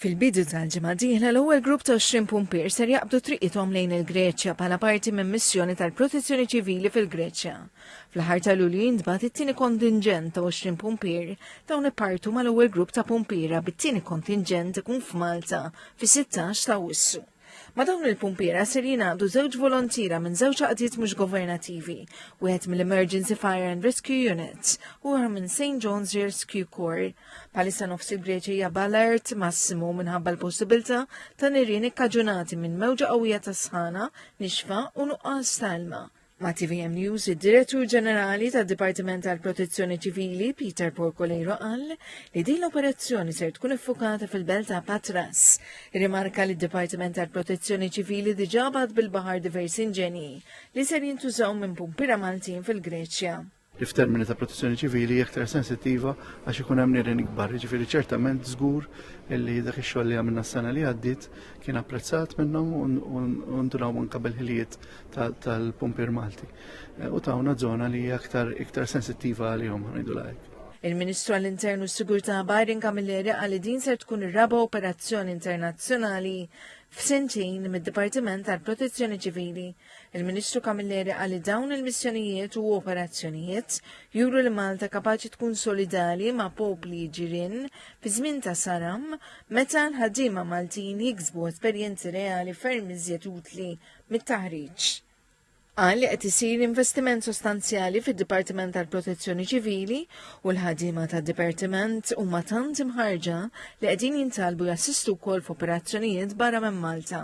Fil-bidu tal-ġimgħa dieħla l-ewwel grupp ta' 20 pumpier ser jaqbdu triqithom lejn il-Greċja bħala parti minn missjoni tal-Protezzjoni Ċivili fil-Greċja. Fl-aħħar ta' Lulju jintbagħat it-tieni kontinġent ta' 20 pumpier dawn ippartu mal-ewwel grupp ta' pumpiera bit-tieni kontinġent ikun f'Malta fis-16 ta' Awwissu. Ma' dawn il-pumpiera ser jingħaqdu żewġ volontiera minn żewġ għaqdiet mhux governativi, wieħed mill-Emergency Fire and Rescue Units u oħra minn St. John's Rescue Corps. Palissa nofs il-Greċja hija b'alert massimu minħabba l-possibilità ta' nirien ikkaġunati minn mewġa qawwija ta' sħana, nixfa u nuqqas ta' ilma. Ma' TVM News, id-Direttur Ġenerali tad-Dipartiment tal-Protezzjoni Ċivili, Peter Porcolero, qal li din l-operazzjoni ser tkun iffukata fil-belt ta' Patras. Rimarka li d-Dipartiment tal-Protezzjoni Ċivili diġà bad bil-baħar diversi inġenji li ser jintużaw minn pumpira Maltin fil-Greċja. li f'termini ta' protezzjoni ċivili iktar sensittiva għax ikun hemm nirien ikbar. Jiġifieri ċertament żgur li dak ix-xogħol li għamilna s-sena li għaddiet kien apprezzat minnhom u ndunaw anke bil-ħiliet tal-pumpier Malti. Eh, u tawna żona li hija aktar iktar sensittiva għalihom ngħidu lajk. Il-Ministru għall-Internu s-Sigurtà Byron Camilleri qal li din ser tkun ir-raba' operazzjoni internazzjonali f'sentejn mid-Dipartiment tal-Protezzjoni Ċivili Il-Ministru Camilleri għalli dawn il-missjonijiet u operazzjonijiet juru li Malta kapaċi tkun solidali ma' popli ġirin fi żmien ta' saram meta l-ħaddiema Maltin jiksbu esperjenzi reali ferm iżjed utli mit-taħriġ. Qal li qed isir investiment sostanzjali fid-Dipartiment tal-Protezzjoni Ċivili u l-ħadima tad-Dipartiment huma tant imħarġa li qegħdin jintalbu jassistu wkoll f'operazzjonijiet barra minn Malta.